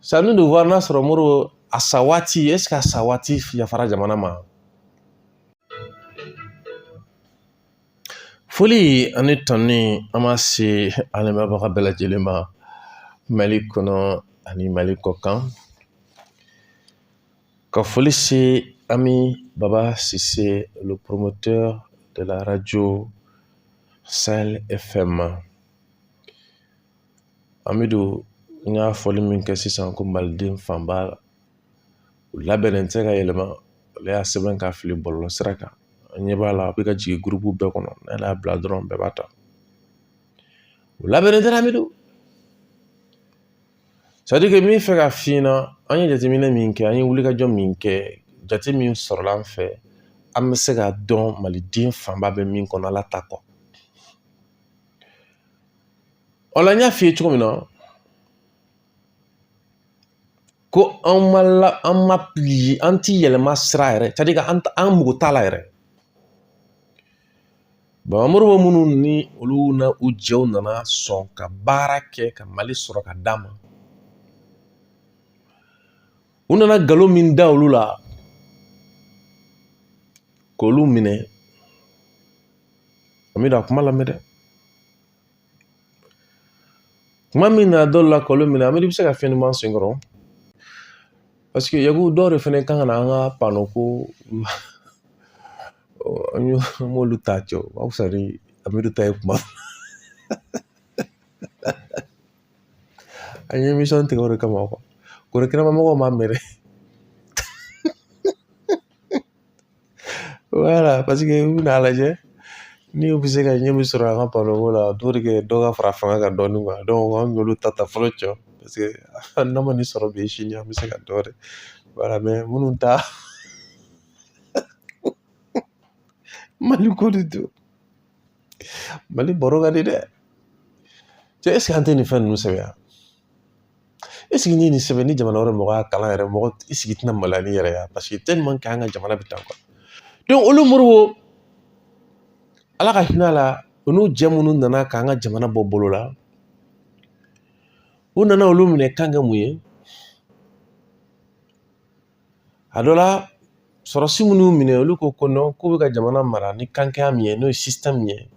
c'est à nous de voir n'a sɔrɔ modibo a sa waati eseke a sa waati yafara jamana ma foli ani tɔni an ma se an lamɛnbaga bɛɛ lajɛlen ma mali kɔnɔ ani mali kɔ kan ka foli se ami baba sise le promoteur de la radio sahel fm ma amidu n y'a fɔli min kɛ sisan ko maliden fanba u labɛnnen tɛ ka yɛlɛma ale y'a sɛbɛn ka fili bɔlɔlɔ sira kan an ɲɛ b'a la a bɛ ka jigin gurupu bɛɛ kɔnɔ n'ale y'a bila dɔrɔn bɛɛ b'a ta u labɛnnen tɛ amidu c'est-à-dire que n bɛ fɛ ka f'i ɲɛna an ye jateminɛ min kɛ an ye wulikajɔ min kɛ jate min sɔrɔla an fɛ an bɛ se k'a dɔn maliden fanba bɛ min kɔnɔ ala ta kɔ O la n y'a f'i ye cogo min na ko an ma la an ma pili an ti yɛlɛma sira yɛrɛ c'est-à-dire que an mago t'a la yɛrɛ baba modibo minnu ni olu na u jɛw nana sɔn ka baara kɛ ka mali sɔrɔ ka d'an ma u nana nkalon min da olu la k'olu minɛ amidu a kuma lamɛn dɛ kuma min na d'olu la k'olu minɛ amidu i bɛ se ka fɛn ɲuman sen kɔrɔ paseke yaku dɔw de fɛnɛ kan ka na an ka pano ko an b'olu ta cɛ o ka fisa ni amidu ta ye kuma an ye émission tigɛ o de kama kɔrɔ kɛnɛma mɔgɔw m'a mɛn dɛ wala paseke u bɛna a lajɛ ni u bɛ se ka ɲɛ min sɔrɔ an ka pano ko la o de kɛ dɔ ka fara fanga kan dɔɔni donc an y'olu ta ta fɔlɔ cɛ paseke n'a ma nin sɔrɔ bi sini an bɛ se ka dɔ wɛrɛ wala mais amidu ta mali ko de don mali baro ka di dɛ cɛ eseke an tɛ nin fɛn ninnu sɛbɛn Eseke ni nin sɛbɛn ni jamana wɛrɛ mɔgɔ y'a kalan yɛrɛ mɔgɔ eseke i tɛna maloya ni yɛrɛ ye paseke tellement que an ka jamana bɛ tan quoi donc olu modibo ala ka hinɛ a la u n'u jɛ minnu nana k'an ka jamana bɔ bolo la u nana olu minɛ kan kɛ mun ye a dɔ la sɔrɔsi minnu y'u minɛ olu ko ko non k'u bɛ ka jamana mara ni kan kɛya min ye n'o ye système min ye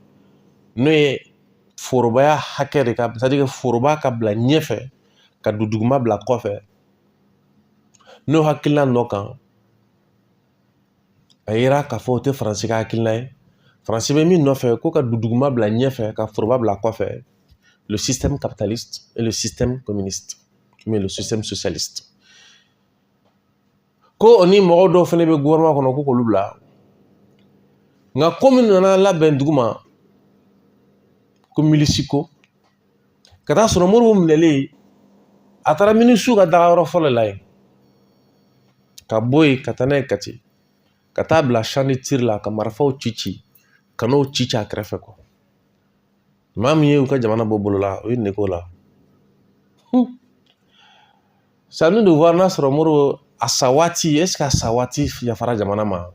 n'o ye forobaya hakɛ c'est-à-dire que foroba ka bila ɲɛfɛ ka dunduguma bila kɔfɛ n'o hakilina nɔ kan a yira k'a fɔ o tɛ faransi ka hakilina ye faransi bɛ min nɔfɛ ko ka dunduguma bila ɲɛfɛ ka foroba bila kɔfɛ le système capitaliste et le système communiste mais le système socialiste ko o ni mɔgɔ dɔw fɛnɛ bɛ gouvernement kɔnɔ ko k'olu bila nka ko min nana labɛn dugu ma ko milisi ko ka taa sɔrɔ modibo minɛlen a taara milisiw ka dagayɔrɔ fɔlɔ la yen ka bɔ yen ka taa n'a ye kati ka taa bila champ de tir la ka marifaw ci ci kanɔn ci ci a kɛrɛfɛ kuwa maa min ye u ka jamana bɔ bolo la u ye nin k'o la c'est à nous de voir n'a sɔrɔ modibo a sa waati ɛseke a sa waati yafara jamana ma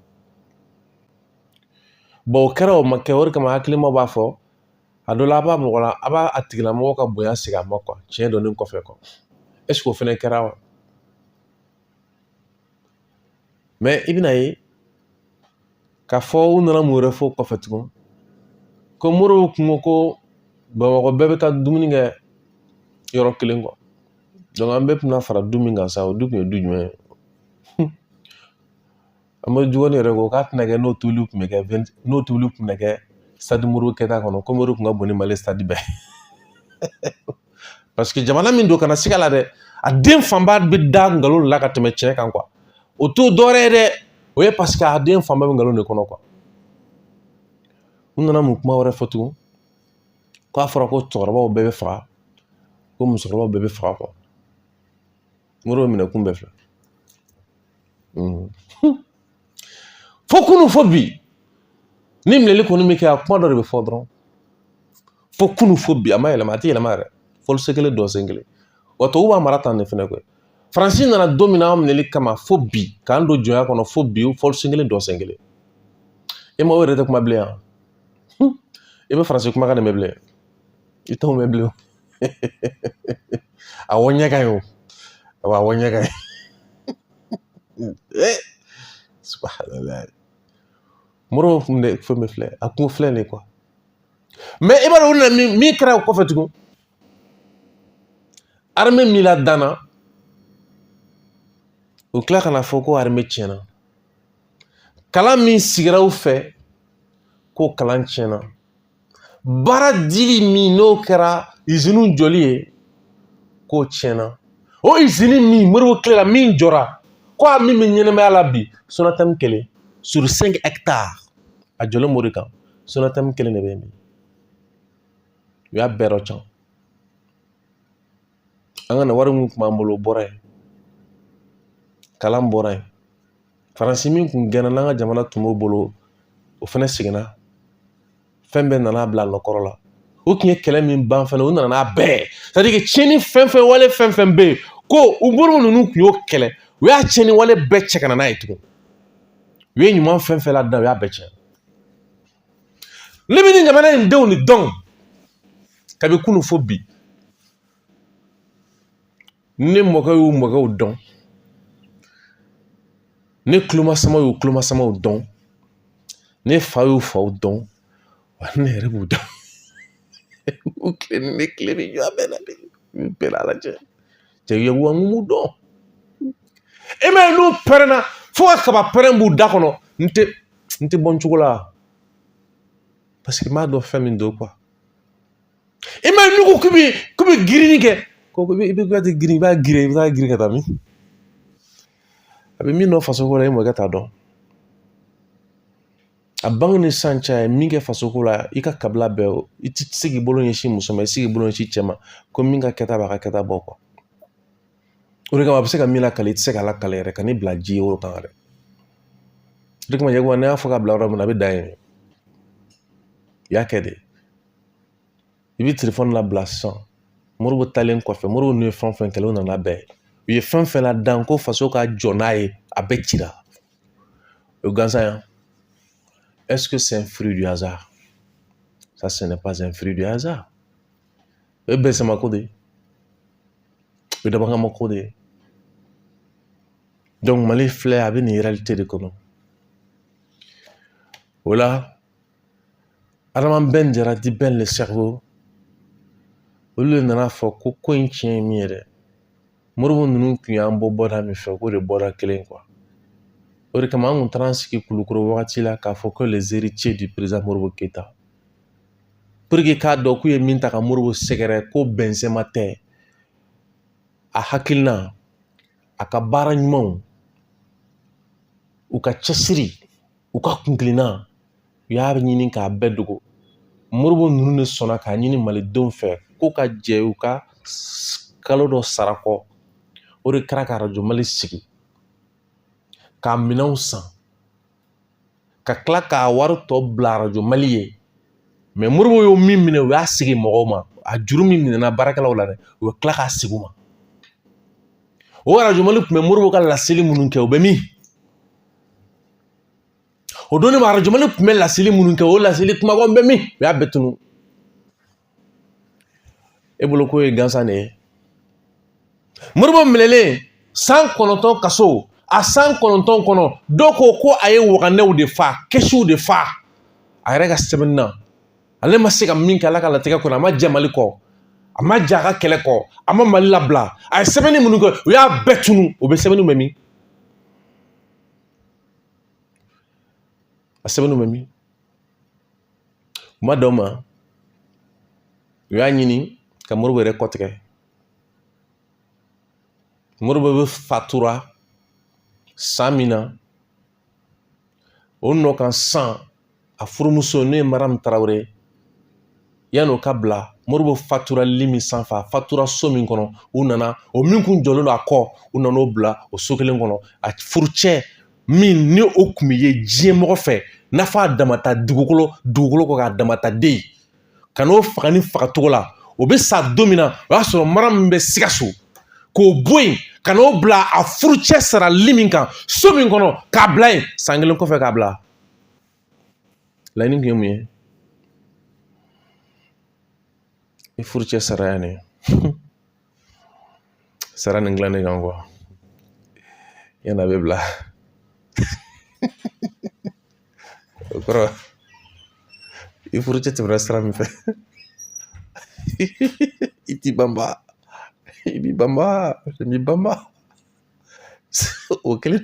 bɔn o kɛra o ma kɛ o de kama hakilima b'a fɔ a dɔ la a b'a mɔgɔ la a b'a tigilamɔgɔ ka bonya segin a ma kuwa tiɲɛ dɔnnen kɔfɛ kuwa ɛseke o fɛnɛ kɛra wa mɛ i bɛna ye k'a fɔ u nana mun wɛrɛ fɔ kɔfɛ tugun ko modibo kun ko ko bamakɔ bɛɛ bɛ taa dumuni kɛ yɔrɔ kelen kuwa donc an bɛɛ tun bɛna fara du min kan sa o du kun ye du jumɛn ye amadu jikɔrɔni yɛrɛ ko k'a tɛna kɛ n'o tobili tun bɛ kɛ n'o tobili tun bɛ kɛ stade modibo keyita kɔnɔ komi o de tun ka bon ni mali stade bɛɛ paseke jamana min don kana siga la dɛ a den fanba bɛ da nkalon la ka tɛmɛ tiɲɛ kan kuwa o t'o dɔwɛrɛ ye dɛ o ye paseke a den fanba bɛ nkalon de kɔnɔ kuwa u nana mun kuma wɛrɛ fɔ tugun k'a fɔra ko cɛkɔrɔbaw bɛɛ bɛ faga ko musokɔrɔbaw bɛɛ bɛ faga kuwa modibo minɛ kun bɛɛ filɛ fo kunun fo bi ni minɛli kɔni bɛ kɛ a kuma dɔ de bɛ fɔ dɔrɔn fo kunun fo bi a ma yɛlɛma a tɛ yɛlɛma yɛrɛ fɔli sen kelen dɔn sen kelen wa tubabu b'an mara tan de fɛnɛ koyi faransi nana don min na an minɛli kama fo bi k'an don jɔnya kɔnɔ fo bi fɔli sen kelen dɔn sen kelen ɲɛmaaw yɛrɛ tɛ kuma bilen yan i bɛ faransi kumakan de mɛn bilen i t'o mɛn bilen a wo ɲɛ ka ɲi o awa wo ɲɛ ka ɲi ee subahanala modibo kun bɛ fɛn bɛɛ filɛ a kun filɛ de kuwa mɛ i b'a dɔn u nana min min kɛra o kɔfɛ tugun arime min ladanna u tila ka n'a fɔ ko arime tiɲɛna kalan min sigira u fɛ k'o kalan tiɲɛna baara dili min n'o kɛra izini jɔli ye k'o tiɲɛna o izini min moribo tile la min jɔra ko a min bɛ ɲɛnamaya la bi sonatamu kelen sur cinq hectares a jɔlen b'o de kan sonatamu kelen de bɛ yen bi u y'a bɛɛ dɔcan an kana wari min kun b'an bolo o bɔra yen kalan bɔra yen faransi min kun gɛnna n'an ka jamana tun b'o bolo o fɛnɛ seginna fɛn bɛɛ nana bila nɔkɔrɔ la u kun ye kɛlɛ min ban fɛnɛ u nana n'a bɛɛ c'est à dire que tiɲɛni fɛn fɛn wale fɛn fɛn bɛ yen ko moribo ninnu kun y'o kɛlɛ u y'a tiɲɛni wale bɛɛ cɛ ka na n'a ye tugun u ye ɲuman fɛn fɛn ladan u y'a bɛɛ cɛn ne bɛ nin jamana in denw de dɔn kabi kunu fo bi ne mɔkɛ y'u mɔkɛw dɔn ne kulomasama y'u kulomasamaw dɔn ne fa y'u faw dɔn wa ne yɛrɛ b'u dɔn u tile ni ne tile bɛ jɔ a bɛɛ la bi bɛɛ lalajɛ cɛ ye wa n b'u dɔn e m'a ye n'u pɛrɛnna fo ka kabapɛrɛn b'u da kɔnɔ n tɛ n tɛ bɔ n cogo la parce que n b'a dɔn fɛn min don quoi e m'a ye n'u ko k'u bɛ girinni kɛ ko i bɛ ka girin i b'a girin i bɛ taa girin ka tɛmɛ a bɛ min dɔn fasoko la e mɔkɛ t'a dɔn a bange ni san cɛ ye min kɛ fasoko la i ka kabila bɛɛ o i ti se k'i bolo ɲɛsin muso ma i ti se k'i bolo ɲɛsin cɛ ma ko min ka kɛta b'a ka kɛta bɔ o de kama a bɛ se ka min lakali i tɛ se ka lakali yɛrɛ ka ne bila ji ye o kan yɛrɛ o de kama jagoya ne y'a fɔ ka bila yɔrɔ min na a bɛ dan yen i y'a kɛ dɛ i bɛ telefɔni labila sisan moribo taalen kɔfɛ moribo n'u ye fɛn fɛn kɛlɛ o nana bɛɛ u ye fɛn fɛn ladan ko faso ka jɔ n'a ye a bɛɛ cira O gansan ya ɛseke sɛ fili duyansa sa sɛnɛ pas fili duyansa o ye bɛɛ sama ko de ye o ye dabakama ko de ye mali filɛ a bɛ nin yɛrɛli te de kɔnɔ o la Adama bɛn jara dit bɛn le cerveau olu de nan'a fɔ ko ko in tiɲɛ ye min ye dɛ moribo ninnu tun y'an bɔ bɔda min fɛ k'o de bɔda kelen quoi o de kama an kun taara an sigi kulukoro wagati la k'a fɔ ko les héritiers du président moribo keyita pour que k'a dɔn k'u ye min ta ka moribo sɛgɛrɛ ko bɛnsɛma tɛ a hakilina a ka baara ɲumanw u ka cɛsiri u ka kunkilenna u y'a ɲini k'a bɛɛ dogo moribo ninnu de sɔnna k'a ɲini malidenw fɛ ko ka jɛ u ka kalo dɔ sara kɔ o de kɛra ka arajo mali sigi k'a minɛnw san ka tila k'a wari tɔ bila arajo mali ye mais moribo y'o min minɛ u y'a segin mɔgɔw ma a juru min minɛna baarakɛlaw la dɛ u bɛ tila k'a segin u ma o arajo mali tun bɛ moribo ka laseli minnu kɛ u bɛ min o don ne ma arajo mali tun bɛ laseli minnu kɛ o laseli kumabaw bɛ min u y'a bɛɛ tunu e bolo ko ye gansan de ye moribo minɛlen san kɔnɔntɔn kaso a san kɔnɔntɔn kɔnɔ dɔw ko ko a ye waganɛw de fa kɛsiw de fa a yɛrɛ ka sɛbɛnni na ale ma se ka min kɛ ala ka latigɛ kɔnɔ a ma jɛ mali kɔ a ma jɛ a ka kɛlɛ kɔ a ma mali labila a ye sɛbɛnni minnu kɛ u y'a bɛɛ tunu o bɛ sɛbɛnni bɛ min a sɛbɛnni bɛ min u ma dan o ma u y'a ɲini ka moribo yɛrɛ kɔ tigɛ moribo bɛ fatura san min na o nɔ kan san a furumuso n'o ye maramu tarawele yani u k'a bila moribo fatura lit min sanfɛ a fatura so min kɔnɔ u nana o min kun jɔlen don a kɔ u nana o bila o so kelen kɔnɔ a furucɛ min ni o kun bɛ ye diɲɛ mɔgɔ fɛ n'a fɔ a damata dugukolo dugukolo kɔ kan adamaden ka n'o faga nin fagacogo la o bɛ sa don min na o y'a sɔrɔ maramu bɛ sikaso k'o bɔ yen ka n'o bila a furucɛ sara lit min kan so min kɔnɔ k'a bila yen san kelen kɔfɛ k'a bila laɲini kun ye mun ye i furucɛ sara yan de sara nin gilan de kan yan'a bɛ bila o kɔrɔ i furucɛ tɛmɛna sira min fɛ i t'i banba i b'i banba i b'i banba o kelen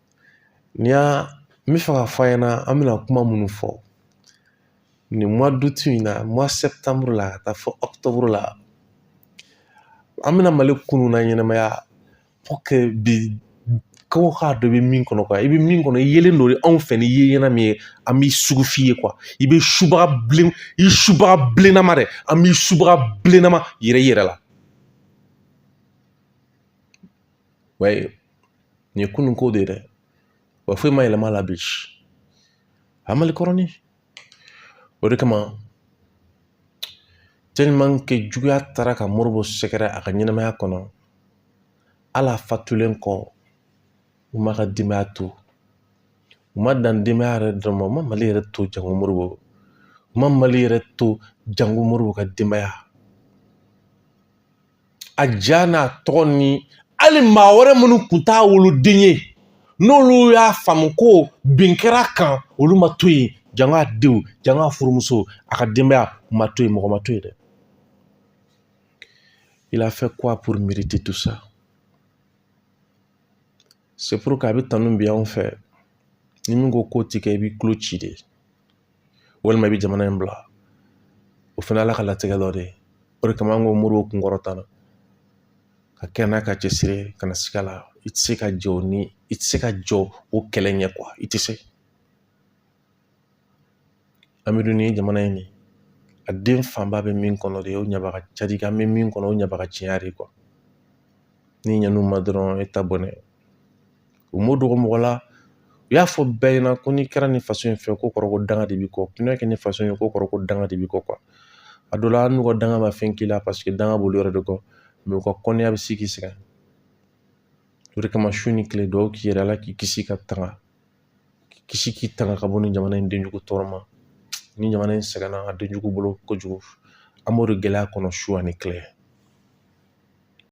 Ni y'a n b'a fɛ k'a fɔ aw ɲɛna an bɛna kuma minnu fɔ nin mois d'août in na mois septembre la ka taa fɔ octobre la an bɛna mali kunun laɲɛnamaya pour que bi ko k'a dɔn i bɛ min kɔnɔ quoi i bɛ min kɔnɔ i yelen don anw fɛ ni ye ɲɛna min ye an b'i sugu f'i ye quoi i bɛ subaga bilen i subaga bilennama dɛ an b'i subaga bilennama yira i yɛrɛ la nin ye kunun ko de ye dɛ wa foyi ma yɛlɛma la bi a mali kɔrɔni o de kama tellement que juguya taara ka moribo sɛgɛrɛ a ka ɲɛnamaya kɔnɔ hali a fatulen kɔ u m'a ka denbaya to u ma dan denbaya yɛrɛ dɔrɔn ma u ma mali yɛrɛ to jango moribo u ma mali yɛrɛ to jango moribo ka denbaya a ja n'a tɔgɔ ni hali maa wɛrɛ minnu kun t'a woloden ye n'olu y'a faamu ko bin kɛr'a kan olu ma to yen janko a denw janko a furumuso a ka denbaya ma to yen mɔgɔ ma to yen dɛ il a fait quoi pour mériter tout ça c'est pourquoi a bɛ tanu bi anw fɛ ni min ko k'o ti kɛ i b'i tulo ci de walima i bɛ jamana in bila o fana ala ka latigɛ dɔ de ye o de kama an ko Modibo kun kɔrɔta la ka kɛ n'a ka cɛsiri ye kana siga la i tɛ se ka jɔ ni i tɛ se ka jɔ o kɛlɛ ɲɛ quoi i tɛ se an bɛ dun ni jamana in ni a den fanba bɛ min kɔnɔ de o ɲabaga ca de an bɛ min kɔnɔ o ɲabaga caya de quoi n'i ɲan'u ma dɔrɔn e ta bɔnɛ U m'o dogo mɔgɔ la u y'a fɔ bɛɛ ɲɛna ko n'i kɛra nin faso in fɛ k'o kɔrɔ ko danga de b'i kɔ n'i y'a kɛ ni faso ye k'o kɔrɔ ko danga de b'i kɔ a dɔ la hali n'u ka danga ma fɛn k'i la parce que danga b'olu yɛrɛ de kɔ u ka kɔnniya bɛ se k'i sɛgɛn o de kama su ni tile dugawu k'i yɛrɛ ala k'i kisi ka tanga k'i kisi k'i tanga ka bɔ nin jamana in denjugu tɔɔrɔ ma ni jamana in sɛgɛnna a denjugu bolo kojugu an b'o de gɛlɛya kɔnɔ su ani kile